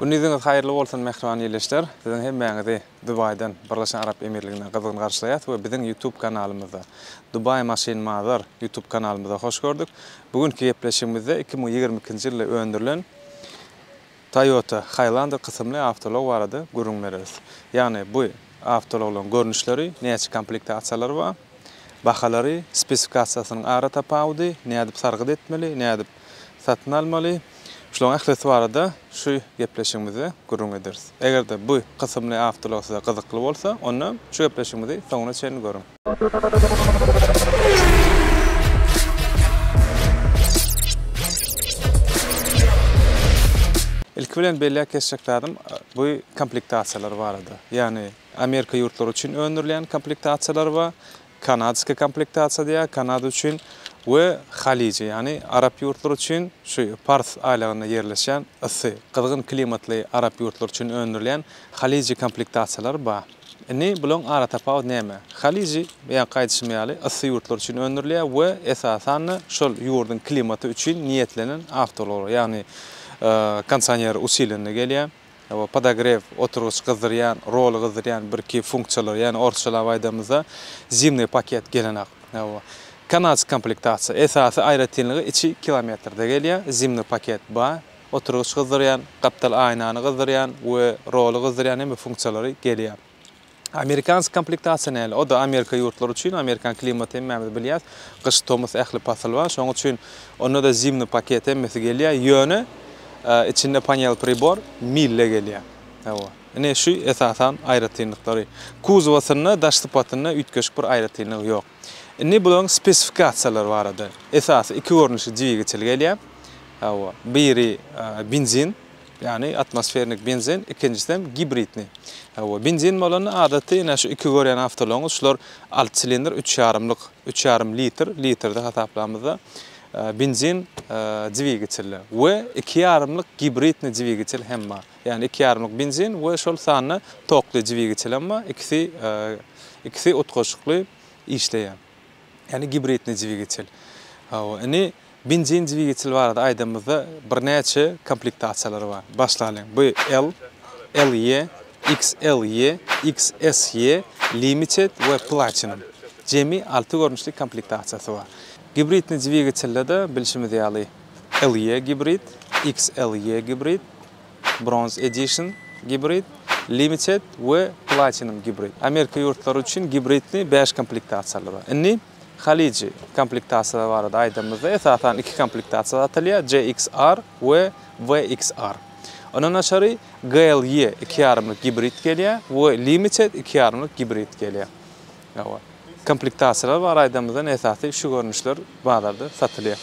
Gündiziňiz haýyrly bolsun mähriban ildeşler! Siziň hemmäňizi Dubaýdan, Birleşen Arap Emirliginden gyzgyn garşylaýas we biziň YouTube kanalymyzda, Dubai Machine Mother YouTube kanalymyzda hoş gördük. Bu günki gepleşigimizde iki müň ýigrimi ikinji ýylda öndürilen Toyota Highlander kysymly awtoulag barada gürrüň bereris. Ýagny bu awtoulaglaryň görnüşleri, näçe komplektasiýalary bar, bahalary, spesifikasiýasynyň ara tapawudy, nädip sargyt etmeli, nädip satyn almaly. Şularyň ählisi barada şu gepleşigimizde gürrüň ederis. Eger-de bu kysymly awtoulag size gyzykly bolsa, onda şu gepleşigimizi soňuna çenli görüň. Ilki bilen belläp geçjek zadym bu komplektasiýalar barada. Ýagny Amerika ýurtlary üçin öndürilýän komplektasiýalar bar, Kanadskiý komplektasiýa diýýär, Kanada üçin we Halije, ýagny arap ýurtlary üçin şu Pars aýlagynda ýerleşýän yssy, gyzgyn klimatly arap ýurtlary üçin öndürilýän Halije komplektasiýalary bar. Indi bularyň aratapawudy näme? Halije, beýanky aýdyşym ýaly, yssy ýurtlar üçin öndürilýär we esasan-da şol ýurduň klimaty üçin niýetlenen awtoulag, ýagny kondisioner usilenli gelýär. Hawa, podogrew, oturgyç gyzdyrýan, roly gyzdyrýan birki funksiýalary, ýagny orsçalap aýdamyzda, zimnyý paket gelenok. Hawa. Kanadski komplektasiýa. Esasy aýratynlygy içi kilometrde gelýär, zimnyý paket bar. Oturgyç gyzdyrýan, gapdal aýnany gyzdyrýan we roly gyzdyrýan hemme funksiýalary gelýär. Amerikansk komplektasiýa näle? O-da Amerika ýurtlary üçin, amerikan klimaty hemmämiz bilýäs, gyş, tomus ähli pasyl bar. Şonuň üçin onda-da zimny paket hemmesi gelýär, ýöne içinde panel pribor mille gelýär. Hawa. Ine şu esasan aýratynlyklary. Kuzowasynda daş sypatynda üýtgeşik bir aýratynlygy ýok. Indi bularyň spesifikasiýalary barada. Esasy iki görnüşi dvigatel gelýär. Hawa. Biri benzin, Ýagny atmosfernik benzin, ikinjisem gibridni. Hawa, benzin bolanda adaty ine şu iki görýän awtoulagyňyz şular alty silindr üç ýarymlyk, üç ýarym litr, litrde hasaplamyzda benzin dwigitilli we iki ýarymlyk gibridni dwigitel hem bar. Ýagny iki ýarymlyk benzin we şol sanda tokly dwigitlem bar, ikisi ikisi utgaşykly işleýär. Ýagny gibridni dwigitel. Hawa, indi Benzin dwigitel barada aýdanymyzda birnäçe komplektasiýalary bar. Başlalyň, BL, LE, XLE, XSE, Limited we Platinum. Jemi alty görnüşli komplektasiýasy bar. Gibridni dwigitelde-de bilşimiz ýaly LE gibrid, XLE gibrid, Bronze Edition gibrid, Limited we Platinum gibrid. Amerika ýurtlary üçin gibridni bäş komplektasiýalary bar. Indi. Halyjy komplektasiýalary barada aýdanymyzda, esasan iki komplektasiýa satylýar, CXR we VXR. Ondan daşary GLE iki ýarymlyk gibrid gelýär we Limited iki ýarymlyk gibrid gelýär. Hawa. Komplektasiýalar barada aýdanymyzda esasy şu görnüşler bazarda satylýar.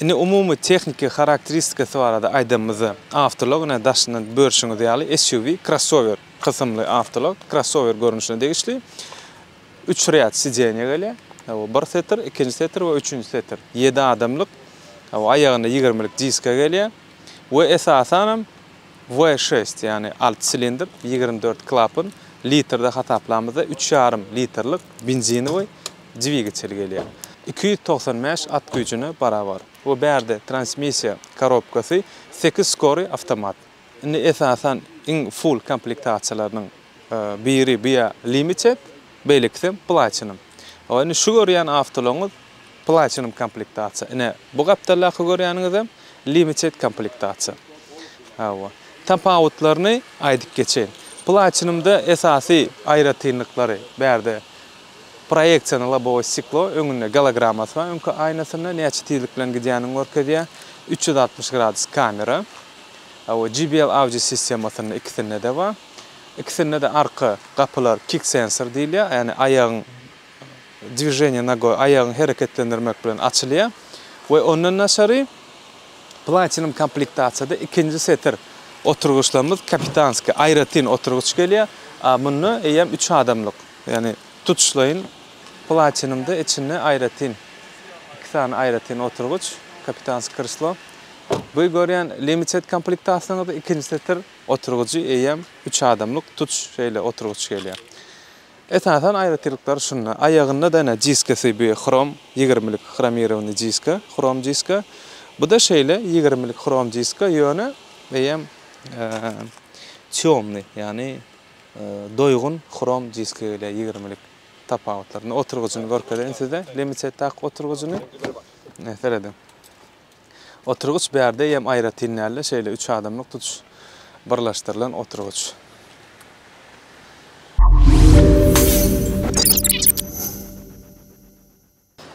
Indi umumy tehniki harakteristikasy barada aýdanymyzda, awtoulag ine daşyndan börşüňiz ýaly SUV, krossower, kysymly awtoulag, krossower görnüşine degişli. Üç rýad sidenýa gelýär. Hawa, bir setir, ikinji setir we üçünji setir. Ýedi adamlyk. Hawa, aýagynda ýigirmilik diska gelýär. We esasanam We şest, ýagny alty silindr, ýigrimi dört klapan, litrde hasaplamyzda üç ýarym litrlik benzinowy dwigatel gelýär. Iki ýüz togsan bäş at güýjüne barabar. We bärde transmissiýa korobkasy sekiz skory awtomat. Indi esasan iň full komplektasiýalarynyň Biri Bia Limited, beýlekisi Platinum. Hawa, indi şu görýän awtolaryňyz Platinum komplektasiýa. Ine, bu gapdaldaky görýäniňizem Limited komplektasiýa. Hawa. Tapawutlaryny aýdyp geçeýin. Platinumda esasy aýratynlyklary, bärde proýeksion lobowy stiklo, öňünde gologrammasy bar, öňki aýnasynda näçe tizlik bilen gidýänini görkezýär, üç ýüz altmyş gradus kamera. Hawa, JBL Audio sistemasynda ikisinde-de bar. Ikisinde-de arka gapylar kick sensor diýilýär, ýagny aýagyň dwiženiýe nogoý, aýagyň hereketlendirmek bilen açylýar we ondan daşary Platinum komplektasiýada ikinji setir oturgyçlarymyz kapitanskiý, aýratyn oturgyç gelýär, a munda eýýäm üç adamlyk, ýagny tutuşlaýyn Platinumda içinde aýratyn iki sany aýratyn oturgyç, kapitanskiý krslo. Bu görýän Limited komplektasiýamyzda ikinji setir. Oturgyjy eýýäm üç adamlyk tutuş şeýle oturgyç gelýär. Esasan aýratylyklar şunda, aýagynda-da ine diskasy bu hrom ýigirmilik hromirowanyý diska, hrom diska. Bu-da şeýle ýigirmilik hrom diska, ýöne eýýäm týomnyý, ýagny doýgun hrom diska gelýär ýigirmilik. Tapawutlar. Indi oturgyjyny görkezeýin size, Limited tak oturgyjyny. Ine, serediň. Oturgyç bärde ýem aýratyn däldi, şeýle üç adamlyk tutuş birleşdirilen oturgyç.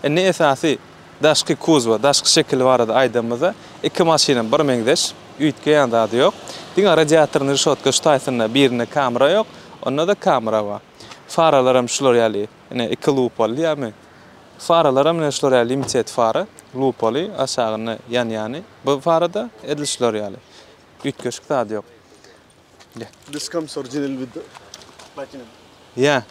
Indi esasy daşky kuzowa, daşky şekili barada aýdanymyzda, iki maşynam bir meňzeş, üýtgeýän zady ýok. Diňe radiatoryň reşotka şu taýsynda birinde kamera ýok, onda-da kamera bar. Faralaram şular ýaly. Ine, iki lupoly diýýärmi? Faralaram ine şular ýaly limited fara, lupoly, aşagynda ýanýany. Bu farada edil şular ýaly. Üýtgeşik zady ýok. Ine. This comes original with the platinum. Ýa.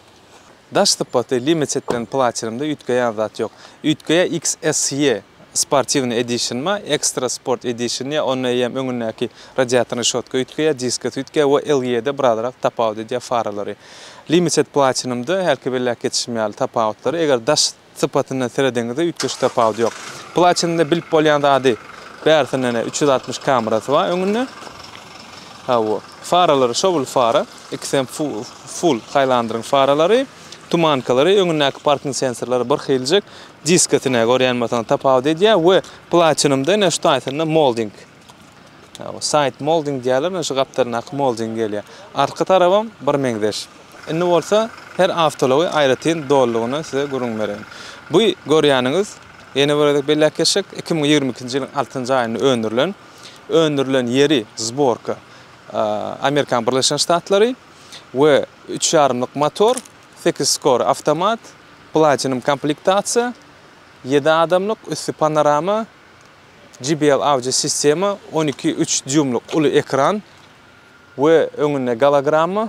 Daş sypaty limitedden platinumda üýtgeýän zat ýok. Üýtgeýär XSE Sportiwny edişinma, ekstra sport edişinýa, onda eýýäm öňündäki radiator rişotka üýtgeýär, diska süýtgeýär we LE-de birazrak tapawut edýär faralary. Limited Platinum-da hälki belläp geçişim ýaly tapawutlary, eger daş sypatyndan seredeňizde üýtgeşik tapawut ýok. Platinum-da bilip bolýan zady bärsindenä üç ýüz altmyş kamerasy bar öňünde. Hawa, faralary şowly fara, ikisem full Highlanderyň faralary, tumankalary, öňündäki parking sensorlary birhiljek. Disketine görýän bolsaňyz tapawut edýär we platinumda ine şu taýsynda molding. Side molding diýýärler, ine şu gapdalyndaky molding gelýär. Artky tarabam bir meňzeş. Indi bolsa her awtoulagy aýratyn dolulygyna size gürrüň bereýin. Bu görýäniňiz, ýene bir gezek belläp geçsek, iki müň ýigrimi ikinji ýylyň altynjy aýynda öndürilen. Öndürilen ýeri zborka Amerikan Birleşen Ştatlary we üç ýarymlyk motor Sekiz skor awtomat, platinum komplektasiýa, ýedi adamlyk, üsti panorama, JBL audio sistema, on iki üç dýuýmlyk uly ekran we öňünde gologramma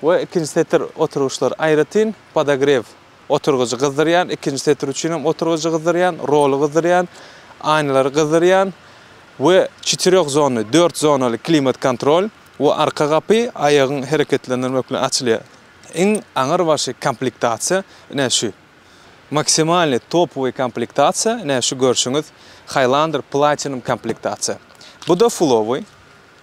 we ikinji setir oturgyçlary aýratyn, podogrew, oturgyjy gyzdyrýan, ikinji setir üçin hem oturgyjy gyzdyrýan, roly gyzdyrýan, aýnalary gyzdyrýan we çetirýok zonly, dört zonaly klimat kontrol we arka gapy aýagyň hereketlendirmek bilen açylýar. Iň aňyr başy komplektasiýa ine şu. Maksimalnyý topowyý komplektasiýa ine şu görşüňiz Highlander Platinum komplektasiýa. Bu-da fullowyý,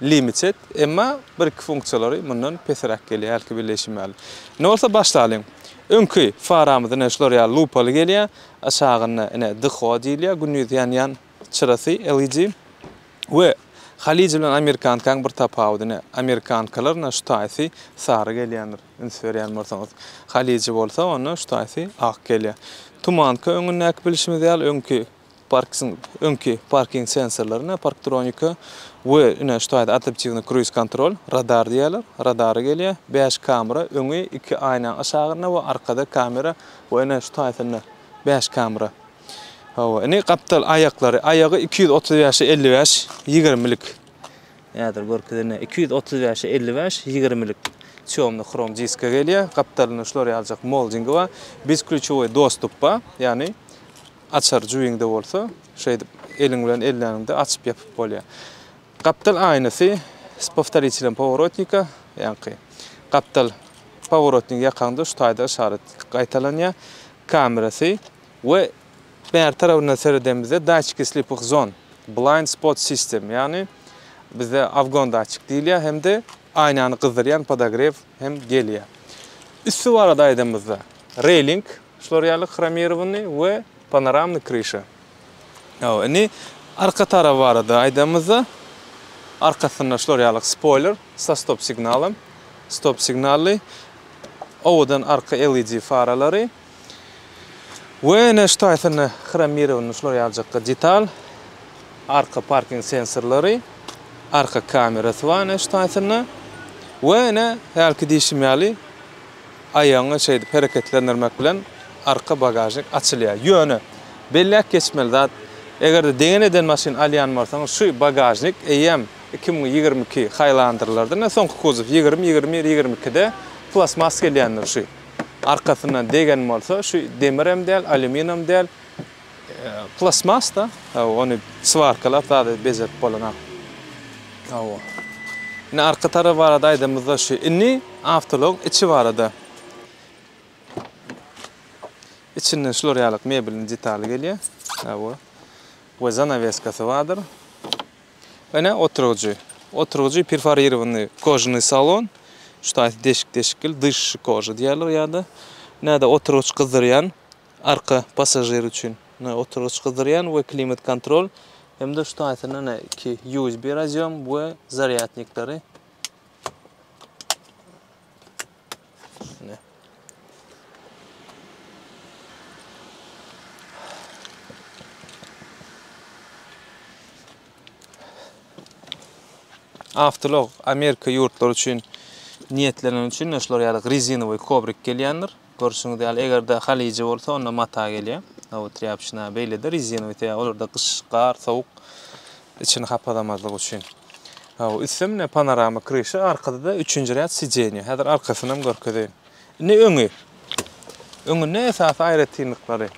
limited, emma bir-iki funksiýalary mundan pesräk gelýär hälki belleýşim ýaly. Indi bolsa başlalyň. Öňki faramyz ine şular ýaly lupaly gelýär. Aşagynda ine dxo diýilýär, gündiz ýanýan çyrasy LED. We, Halyja bilen amerikankaň bir tapawudy ne? Amerikankalar na şu taýsy sary gelýändir, üns berýän bolsaňyz. Halyja bolsa onda şu taýsy ak gelýä. Tumanka öňündäki bilşimiz ýaly öňki parksin, öňki parking sensorlary ne? Parktronika. We, ine şu taýda adaptiwny kruiz kontrol, radar diýýärler, radary gelýä. Bäş kamera, öňi iki aýnaň aşagynda we arkada kamera we ine şu taýsynda bäş kamera. Hawa, indi gapdal aýaklary, aýagy iki ýüz otuz bäşe elli bäş, ýigirmilik. Häzir görkezene, iki ýüz otuz bäşe elli bäş, ýigirmilik. Çömli hrom diska gelýär, gapdalynda şular ýaljak moldingi bar, bezklýuçowy dostup bar, ýagny açar jübiňde bolsa, şeýdip eliň bilen elläniňde açyp-ýapyp bolýar. Gapdal aýnasy s powtoritelem poworotnika, ýaňky gapdal poworotnik ýakaňda şu taýda yşarat gaýtalanýar. Kamerasy. We bäri tarapyndan seredemizde datçiki slypych zon, blind spot system, ýagny bizde awgon datçik diýilýär hem-de aýnany gyzdyrýan podogrew hem gelýär. Üsti barada aýdamyzda, railing şular ýaly hromirowanyny we panoramny kryşa. Hawa, indi arka taraby barada aýdamyzda, arkasynda şular ýaly spoýler sa stop signalym, stop signally, owadan arka LED faralary, We ine şu taýsyny hromirowany şular ýalyjakka detal, arka parking sensorlary, arka kamerasy bar ine şu taýsyny we ine hälki diýşim ýaly aýagyňy şeýdip hereketlendirmek bilen arka bagažnik açylýar. Ýöne belläp geçmeli zat eger-de degen eden maşyn alýan bolsaňyz şu bagažnik eýýäm iki müň ýigrimi iki haýlandyrylardy ine soňky kuzow ýigrimi, ýigrimi bir, ýigrimi ikide plastmas gelýändir şu. Arkasyndan degen bolsa şu demirem däl alýuminam däl plastmasda hawa ony swarkalap zada bejerip bolanak hawa. Indi arka tarap barada aýdanymyzda şu indi awtoulogyň içi barada içinden şular ýaly mebeliň detaly gelýär hawa we zanaweskasy bardyr. Ene oturgyjy. Oturgyjy perforirowanyý kožnýy salon. Şu taýsy deşik-deşikli dyşy koža diýerler ýa-da. Näde oturgyç gyzdyrýan arka passažir üçin. Ine oturgyç gyzdyrýan we klimat kontrol hem-de şu taýsyna ine iki USB razýom we zarýadnikleri. Avtolog Amerika ýurtlary üçin niýetlenen üçin şular ýaly rezinowy kobrik gelýändir. Görşüňiz ýaly, eger-de halyjy bolsa, onda mata gelýär. Aw trýapçina beýlede rezinowy, olarda gyş, gar, sowuk içini hapazamazlyk üçin. Hawa, üstemine panorama kryşa, arkada-da üçünji rýad sideniýa. Häzir arkasynam görkezeýin. Indi öňi. Öňünde esasy aýratynlyklary.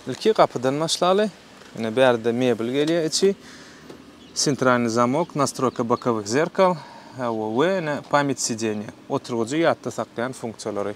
Ilki gapydan başlaly. Ine bärde mebel gelýär içi. Sentralny zamok, nastroýka bokovih zerkal, hawa we ine pamýat sideniýa. Oturgyjy ýatda saklaýan funksiýalary.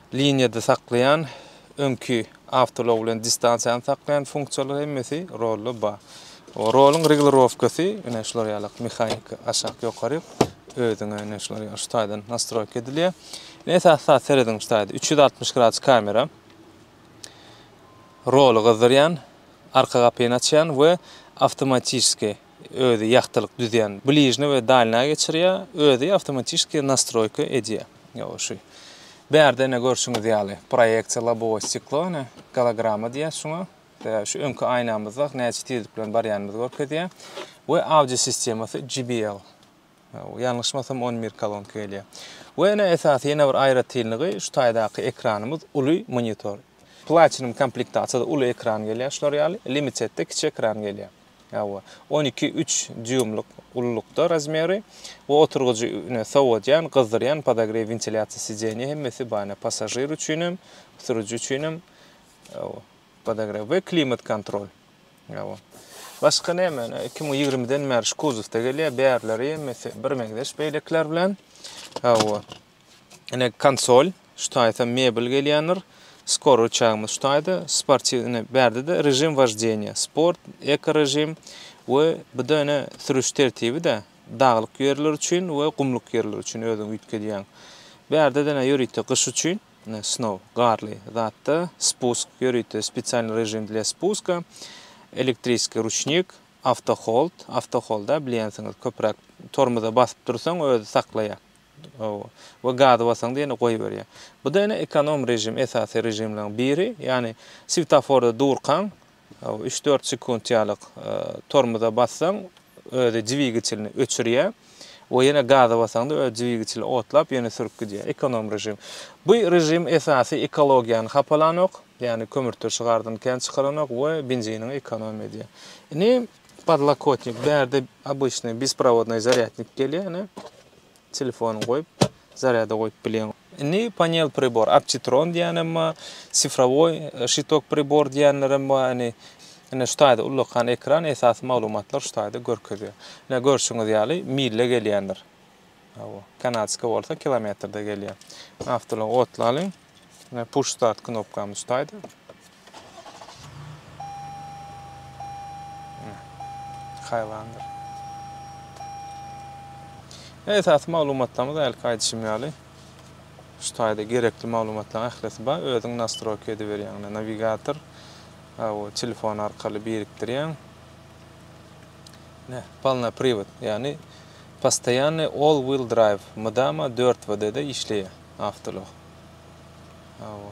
Liniýada saklaýan, öňki awtoulag bilen distansiýany saklaýan funksiýalar hemmesi rolda bar. Roluň regulirowkasy ine şular ýalak mehanik aşak ýokary özüňe ine şular ýaly şu taýdan nastroýka edilýär. Ine esasy zat serediň şu taýda üç ýüz altmyş gradus kamera. Roly gyzdyrýan, arka gapyny açýan we awtomatiski Özi ýagtylyk düzýän bližne we dalnýa geçirýär, özi awtomatiski nastroýka edýär. Ýow şu. Bärde ine görşüňiz ýaly proýeksiýa lobowe stiklo ine golograma diýýäs şuňa. Ýa şu öňki aýnamyzda näçe tizlik bilen barýanymy görkezýär. We audio sistemasy JBL. Ýalňyşmasam on bir kolonka gelýär. We ene esasy ýene bir aýratynlygy şu taýdaky ekranymyz uly monitor. Platinum komplektasiýada uly ekran gelýär şular ýaly, limitedde kiçi ekran gelýär. Hawa. On iki, üç dýuýmlyk ululykda razmeri we oturgyjy ine sowadýan, gyzdyrýan, podogrew, wentilýasiýa, sidenýe hemmesi bar ine passažir üçinem, sürüji üçinem. Hawa. Podograw we klimat kontrol. Ýa-o. Başga näme? Iki müň ýigrimiden bäri şu kuzowda gelýär. Bärleri hemmesi birmeňzeş beýlekiler bilen. Ýa-o. Ine konsol. Şu taýsa mebel gelýändir. Skor rıçagymyz şu taýda. Sportiw ine bärde-de režim woždeniýa. Sport, eko režim we bu-da ine sürüş tertibi-de. Daglyk ýerler üçin we gumlyk ýerler üçin özüň üýtgedýäň. Bärde-de ine ýörite gyş üçin. Snow, garly, zatda, Spusk, ýörite, Spesialny režim dla spuska, Elektriskiý ruçnik, Awtohold, Awtoholda, bilýänsiňiz, köpräk tormoza basyp dursaň, özi saklaýar, we gazy basaňda ýene goýberýär. Bu-da ene ekonom režim, esasy režimleriň biri, ýagny, swetaforda durkaň, Üç-dört sekunt ýalyk tormoza bassaň, özi dwigitlini öçürýär we ýene gaza basaňda özi dwigitli otlap, ýene sürüp gidýär. Ekonom režim. Bu režim esasy ekologiýany hapalanok, ýagny kömürturşy çygardan kän çykaranok we benziniňi ekonomiýa edýär. Indi podlokotnik, bärde obyçnyý besprovodnyý zarýadnik gelýär, ýagny telefonyňy goýup, zarýada goýup bilýäň. Indi panel pribor, optitron diýýänem bar, sifrowoý şitok pribor diýýänlerem bar. Indi ine şu taýda ullakan ekran esasy maglumatlary şu taýda görkezýär. Ine görşüňiz ýaly milde gelýändir. Hawa, kanadskiý bolsa kilometrde gelýär. Awtoulagy otlalyň. Ine push start knopkamyz şu taýda. Haýwandyr. Esasy maglumatlarymyz hälki aýdyşym ýaly şu taýda gerekli maglumatlaryň ählisi bar. Özüň nastroýka ediberýäň. Ine nawigator bu telefon arkaly birikdirýäň. Ne, polna privod, ýagny postoýanny all wheel drive, mydama 4 WD-de işleýär awtoulag. Hawa.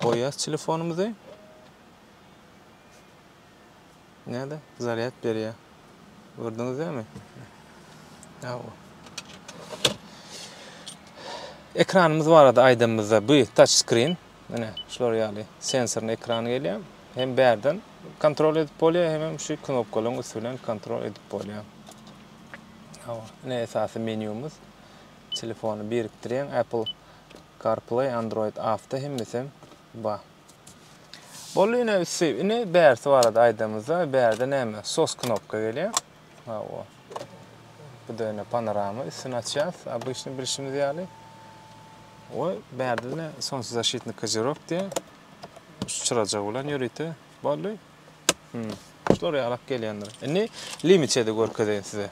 Goýýas telefonymyzy. Näde? Zarýad berýär. Gördüňiz dämi? Hawa. Ekranymyz barada aýdanymyzda bu touch screen. Mine şular ýaly sensorny ekran gelýär. Hem bärden kontrol edip bolýar, hem hem şu knopkalaryň üsti bilen kontrol edip bolýar. Hawa, ine esasy menýumyz. Telefony birikdirýän Apple Carplay Android Auto hemmesem bar. Boldy ine üsti. Ine bärsi barada aýdamyzda. Bärde näme? Sos knopka gelýär. Hawa. Bu da ine panorama üstüni açýas. Obyçny bilşimiz ýaly. Oý, bärde ne solnçezashitny kazirok diýe. Şu çyrajyk bilen ýörite. Boldy. Hmm. Şular ýalak gelýändir. Indi limitedi görkezeýin size.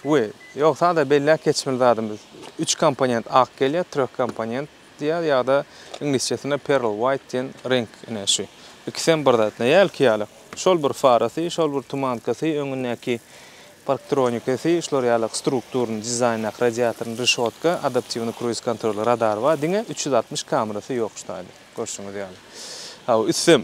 We, ýok, sada belläp geçmeli zadymyz, üç komponent ak gelýär, treh komponent diýýär ýa-da iňlisçesinde pearl white diýen reňk, ine, şu. Ikisem bir zat, näe ilki ýaly. Şol bir farasy, şol bir tumankasy, öňündäki parktronikasy, şular ýaly strukturny, dizaýndaky radiatorny, rişotka, adaptiwny kruiz kontroly, radary bar, diňe üç ýüz altmyş kamerasy ýok şu taýda, görşüňiz ýaly. Hawa, ütsem,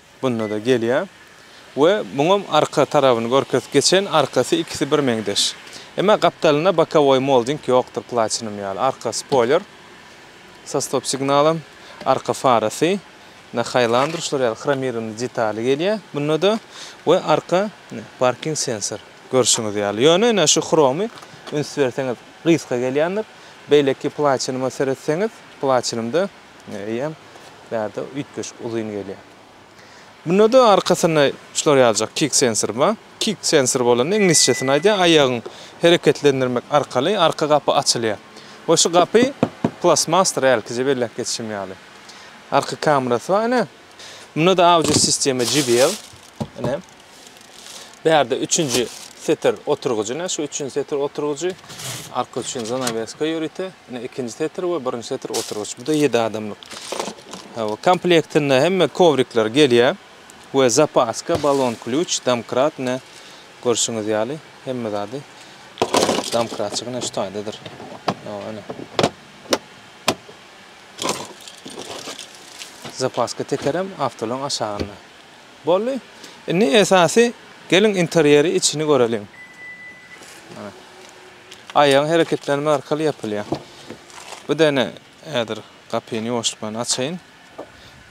Bunda-da gelýär. We muňam arka tarabyny görkezip geçen, arkasy ikisi bir meňzeş. Emma gapdalynda bokowoý molding ýokdur platinum ýaly. Arka spoýler sa stop signalam, arka farasy na haýlandyr şular ýaly hromirowny detaly gelýär bunda-da we arka parking sensor görşüňiz ýaly. Ýöne ine şu hromy üns berseňiz gysga gelýändir. Beýleki platinuma seretseňiz, platinumda eýýäm bärde üýtgeşik uzyn gelýär. Munda-da arkasynda şular ýaljak kick sensor bar. Kick sensor bolanda iňlisçesini aýdýar, aýagyň hereketlendirmek arkaly arka gapy açylýar. We şu gapy plastmasdyr hälkije belläp geçişim ýaly. Arka kamerasy bar ine. Munda-da audio sistema JBL. Ine. Bärde üçünji setir oturgyjy ne? Şu üçünji setir oturgyjy. Arka üçin zanaweska ýörite. Ne ikinji setir we birinji setir oturgyç. Bu da 7 adamlyk. Hawa, komplektinde hemme kowrikler gelýär. We zapaska, balon klýuç, domkrat ne? Görşüňiz ýaly, hemme zady. Domkratçyk ne şu taýdadyr. Hawa, ne? Zapaska tekerem awtolaň aşagynda. Boldy. Indi esasy geliň interýeri içini göreliň. Mana. Aýagyň hereketlenme arkaly ýapylýar. Bu dene häzir gapyny ýuwaşlyk bilen açaýyn.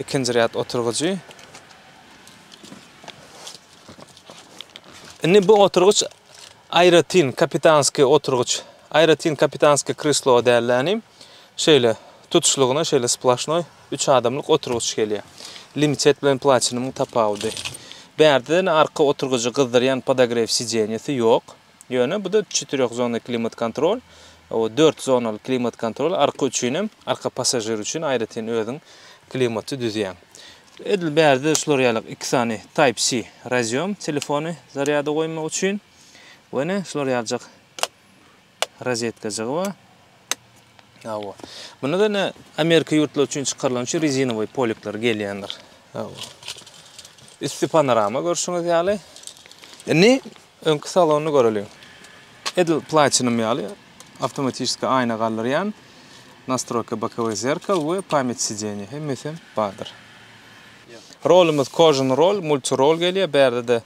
Ikinji rýad oturgyjy. Indi bu oturgyç aýratyn kapitanskiý oturgyç. Aýratyn kapitanskiý kreslo däldi inim. Şeýle, tutuşlygyna şeýle splaşnoý üç adamlyk oturgyç gelýär. Limited bilen Platinumyň tapawudy. Bärden arka oturgyjy gyzdyrýan podogrew sidenýesi ýok. Ýöne bu-da çetirýohzonly klimat-kontrol, dört zonaly klimat-kontrol, arka üçin hem, arka passažir üçin aýratyn özüň klimaty düzýäň. Edil bärde şular ýaly iki sany Type-C raziom telefony zarýada goýmak üçin we ine şular ýaljak rozetkajygy bar. Hawa. Bunda da ne Amerika ýurtlary üçin çykarylan şu rezinowy polikler gelýändir. Hawa. Üsti panorama görşüňiz ýaly. Indi öňki salony göreliň. Edil platinum ýaly awtomatiki aýna galdyrýan nastroýka bokowy zerkal we pamýat sideniýa hemmesi bardyr. Rolumyz kožun rol, multi rol gelýär. Bärde-de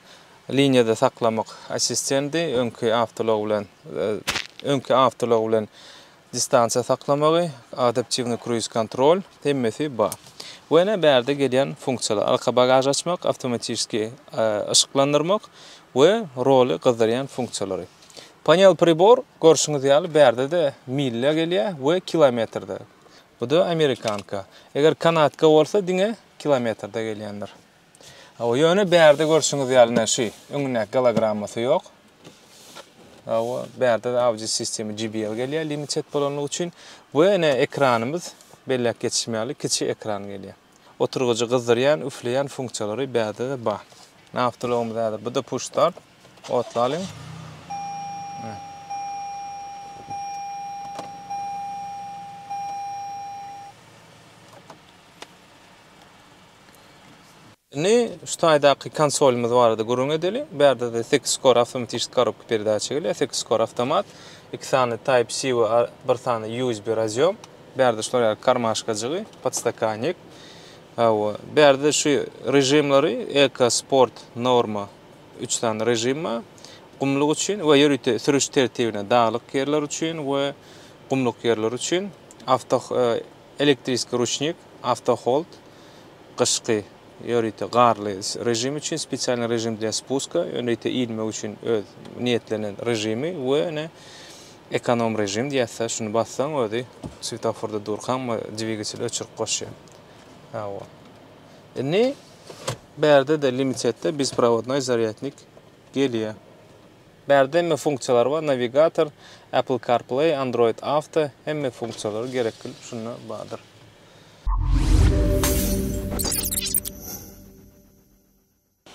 Liniýada saklamak assistendi öňki awtoulag bilen öňki awtoulag bilen distansiýa saklamagy, adaptiwny kruiz kontrol hemmesi bar. Bu ene bärde gelýän funksiýalar, arka bagažy açmak, awtomatiski yşyklandyrmak we roly gyzdyrýan funksiýalary. Panel pribor görşüňiz ýaly bärde-de milýa gelýär we kilometrde. Bu-da amerikanka. Eger kanatka bolsa diňe kilometrde gelýändir. Hawa, ýöne bärde görşüňiz ýaly naşy, öňündäki gologrammasy ýok. Hawa, bärde audio sistema JBL gelýär, limited bolanlygy üçin we ine ekranymyz belläp geçişim ýaly kiçi ekran gelýär. Oturgyjy gyzdyrýan, üfleýän funksiýalary bärde-de bar. Awtoulagymyz häzir bu-da push start. Otlalyň. Indi şu taýdaky konsolymyz barada gürrüň edeli. Bu ýerde de sekiz kor awtomatişni korobka peredaça gelýär. Sekiz kor awtomat. Iki sany Type-C we bir sany USB razýom. Bu ýerde şular ýaly karmaşkajygy, podstakannik. Hawa, bu ýerde şu režimleri eko, sport, norma üç sany režim bar. Gumluk üçin we ýörite sürüş tertibine, daglyk ýerler üçin we gumluk ýerler üçin awto Elektriskiý ruçnik, awtohold, gyşky, ýörite, garly režim üçin spesialnyý režim dla spuska, ýörite ilmek üçin öz niýetlenen režimi we ine ekonom režim diýäs-de, şuny bassaň özi swetoforda durkaň we dwigatel öçürip goşýar. Hawa. Indi bärde-de limitetde bizprawodnoý zarýadnik gelýär. Bärde hemme funksiýalar bar, nawigator, Apple CarPlay, Android Auto, hemme funksiýalary gerekli şunda bardyr.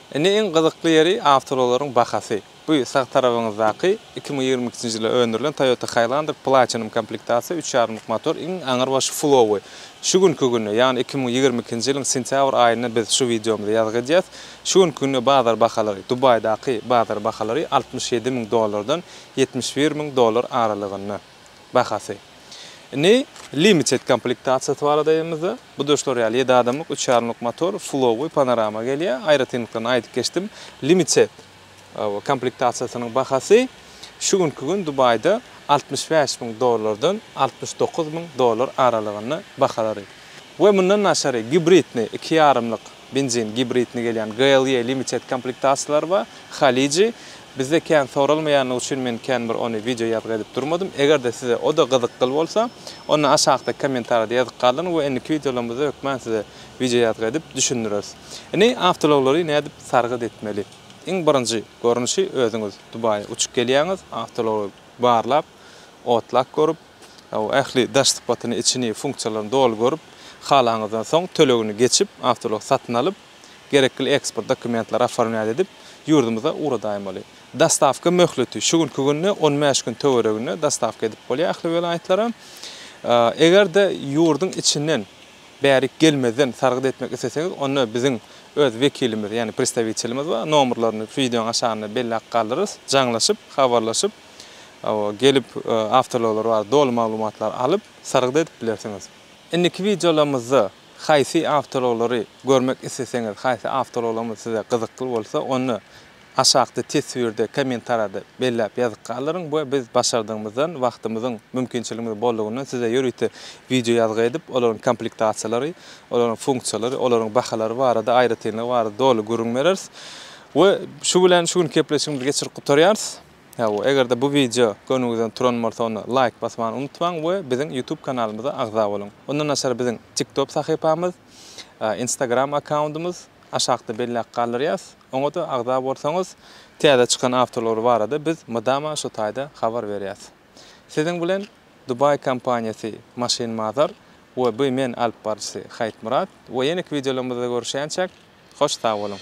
Indi iň gyzykly ýeri awtoulaglaryň bahasy. Bu sag tarabyňyzdaky iki müň ýigrimi ikinji ýylda öndürilen Toyota Highlander Platinum komplektasiýa üç ýarymlyk motor iň aňyrbaşy flowy. Şu günki günde ýagny iki müň ýigrimi ikinji ýylyň sentýabr aýynda biz şu wideomyzy ýazgy edýäs. Şu günki günde bazar bahalary, Dubaýdaky bazar bahalary altmyş ýedi müň dollardan ýetmiş bir müň dollar aralygynda bahasy. Indi limited komplektasiýasy barada aýdanymyzda, bu-da şular ýaly, ýedi adamlyk, üç ýarymlyk motor, fulowy, panorama gelýär. Aýratynlyklaryny aýdyp geçdim. Limited. Komplektasiýasynyň bahasy şu günki gün Dubaýda altmyş bäş müň dollardan altmyş dokuz müň dollar aralygynda bahalary we mundan daşary gibridni, iki ýarymlyk benzin gibridni gelýän GLE Limited komplektasiýalary bar. Haliji, bizde kän soralmaýanlygy üçin men kän bir ony wideo ýazgy edip durmadym. Eger-de size o-da gyzykgyl bolsa, onda aşakdaky kommentariýada ýazyp galdyryň we indiki wideolarymyzda hökman size wideo ýazgy edip düşündireris. Indi awtoulaglary nädip sargyt etmeli? Iň birinji görnüşi özüňiz Dubaýa uçup gelýäňiz, awtoulag barlap, otlak görüp, ähli daş sypatyny, içini, funksiýalaryny doly görüp, halaňyzdan soň tölegini geçip, awtoulag satyn alyp, gerekli eksport dokumentleri oformlýat edip, ýurdumyza ugradaýmaly. Dostawka möhleti şu günki günde on bäş gün töwereginde dostawka edip bolýar ähli welaýatlara. Eger-de ýurduň içinden Bärik gelmezden sargyt etmek isleseňiz, onda biziň öz wekilimiz, ýagny predstawitelimiz bar, nomerlerini wideonyň aşagynda belläp galdyrarys, jaňlaşyp, habarlaşyp, gelip, awtoullaglary barada doly maglumatlary alyp, sargyt edip bilersiňiz. Indiki wideolarymyzda haýsy awtoulaglary görmek isleseňiz, haýsy awtoulaglarymyz size gyzykly bolsa, onda Aşakda teswirde, kommentarada belläp ýazyp galdyryň we biz başardygymyzdan, wagtymyzyň, mümkinçiligimiziň bollugyndan size ýörite wideo ýazgy edip, olaryň komplektasiýalary, olaryň funksiýalary, olaryň bahalary barada, aýratynlygy barada doly gürrüň bereris. We şu bilen şu günki gepleşigimizi geçirip gutarýarys. Hawa, eger-de bu wideo göwnüňizden turan bolsa, onda laýk basmany unutmaň we biziň YouTube kanalymyza agza boluň. Ondan daşary biziň TikTop sahypamyz, Instagram akkauntymyz, aşakda belläp galdyrýas. Oňa-da agza bolsaňyz, täze çykan awtoulag barada biz mydama şu taýda habar berýäs. Siziň bilen Dubai kompaniýasy Maşyn Mazar we by men alyp baryjysy Haýytmyrat we ýeneki wideolarymyzda görüşýänçäk, hoş sag boluň!